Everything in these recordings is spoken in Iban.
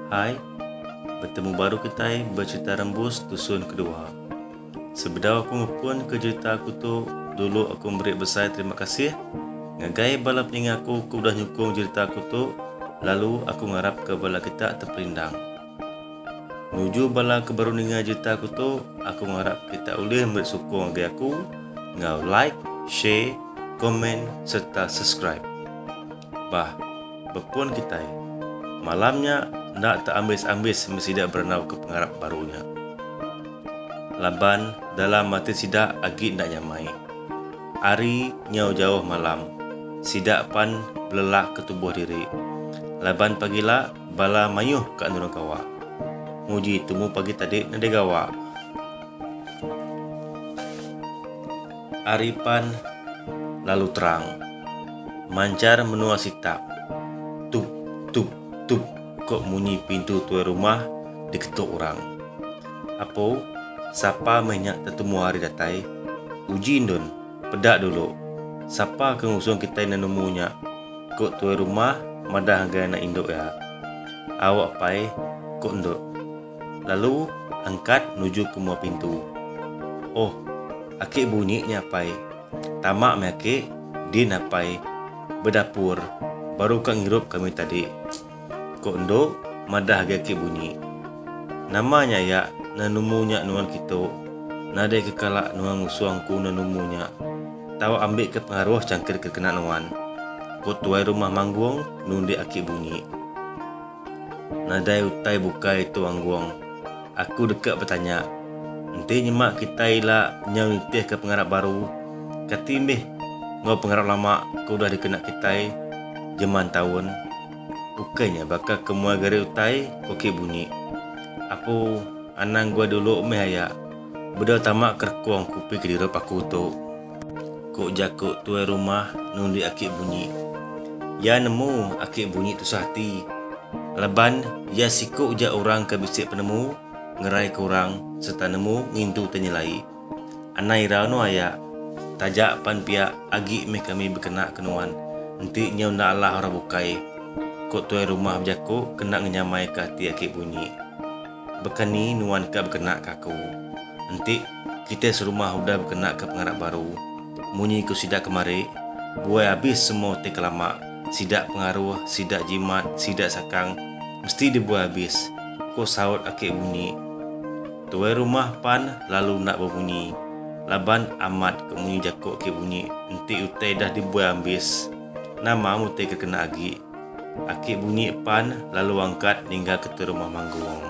Hai, betemu baru kitai becerita rembus tusun kedua. Sebedau aku ngepun ke jerita aku tu, dulu aku meri besai terima kasih ngagai bala peninga aku ke udah nyukung jerita aku tu lalu aku ngarapka bala kita teperindang. Nuju bala ke baru ninga cerita aku tu, aku ngarap kita ulih meri sukung agi aku enggau like, share, comment sereta subscribe. Bah, bepun kitai. Malam nya enda te ambis-ambis meh sida berenauka pengarap baru nya. Laban dalam ati sida agi enda nyamai. Hari nyau jauh malam, sida pan belelahka tubuh diri. Laban pagila, Bala mayuh ka nurung kawa. Nguji tumu pagi tadi nadai gawa. Ari pan lalu terang. Manchar menua sitak. Tup tup tup ko munyi pintu tuai rumah diketuk orang. Apo sapa meh nya tetumu hari datai. Uji endun peda dulu. Sapa ke ngusung kitai nemu nya. Ku tuai rumah madah ngagai anak indu iya. Awak pai, ku endur. Lalu angkat nuju ke mua pintu. Oh, aki bunyi nya apai. Tama meh aki, din apai bedapur baru ka ngirup kami tadi. Ku endu madah agi aki bunyi. Nama nya iya nenumu nya nuan kitu nadai ke kala nuan ngusung ku nenumu nya tau ambi ke pengaruh changkit ke kena nuan ku tuai rumah manggung nundi aki bunyi. Nadai utai bukai tu anggung. Aku deka betanya, Enti nyema kitai ila nyau nitihka pengarap baru, kati mih enggau pengarap lama ke udah dikena kitai jeman taun? Ukai nya baka ke muai gari utai ko ki bunyi. Apu anang guai dulu mih aya, bedau tama ke rekong kupi kedirup aku tu. Ku jaku tuai rumah nundi aki bunyi. Iya nemu aki bunyi tusah ati laban iya siku ja orang ke bisi penemu ngeraika orang sereta nemu ngintu te nyelai. Anai ira anu aya, taja pan pia agi meh kami bekena ke nuan enti nyau enda alah orang bukai, ku tuai rumah bejaku kena ngenyamaika ati aki bunyi. Baka ni nuan ka bekena ke aku? Enti kitai serumah udah bekena ke pengarap baru, munyi ku sida kemari, buai abis semua utai ke lama, sida pengaruh, sida jimat, sida sakang, mesti dibuai abis, ku saut aki Bunyi. Tuai rumah pan lalu enda bebunyi, laban amat ke munyi jaku aki Bunyi enti utai dah dibuai ambis, nama mutai ke kena agi. Aki bunyi pan lalu angkat ninggal ke tu rumah manggung.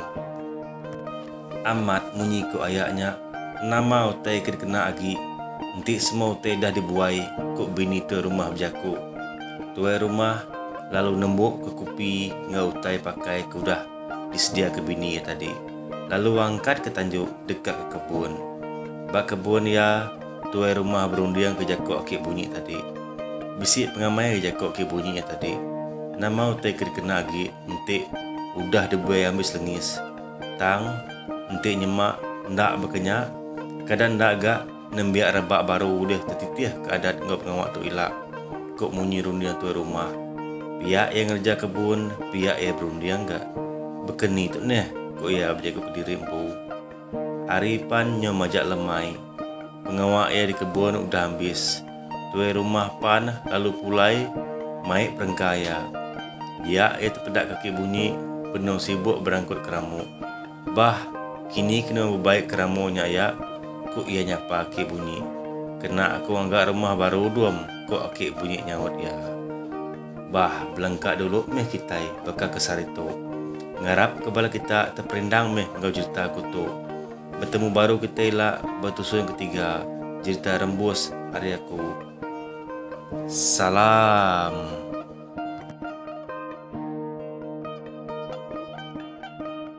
Amat munyi ku aya nya nama utai ke dikena agi enti semua utai dah dibuai ku bini tuai rumah bejaku. Tuai rumah lalu nembuk ke kupi enggau utai pakai ke udah disedia ke bini iya tadi lalu angkat ke tanju deka ke kebun. Ba kebun iya. Tuai rumah berunding ke jaku aki bunyi tadi. Bisi pengamai ke jaku aki bunyi iya tadi. Nama utai ke dikena agi enti udah dibai ambis lengis. Tang, enti nyema enda baka nya, kada enda ga nembiak rebak baru ulih tetitih ke adat enggau pengawa tu ila, ku munyi runding tuai rumah. Piak iya ngereja kebun, piak iya berunding ga. Baka ni tu neh, ku iya bejaku kediri empu. Ari pan nyo majak lemai, pengawa iya di kebun udah ambis. Tuai rumah pan lalu pulai mai perengka iya. Diak iya tepedak kaki bunyi benung sibuk berangkut keramu. Bah, kini kena bebaik keramu nya iya, ku iya nyapa aki bunyi. Kena aku ngaga rumah baru dum, ku aki bunyi nyaut iya. Bah, belengka dulu meh kitai baka ke sehari tu. Ngarap ke bala kita teperindang meh enggau jerita ku tu. Betemu baru kita ila ba tusui yang ketiga, jerita Rembus ari aku. Salam.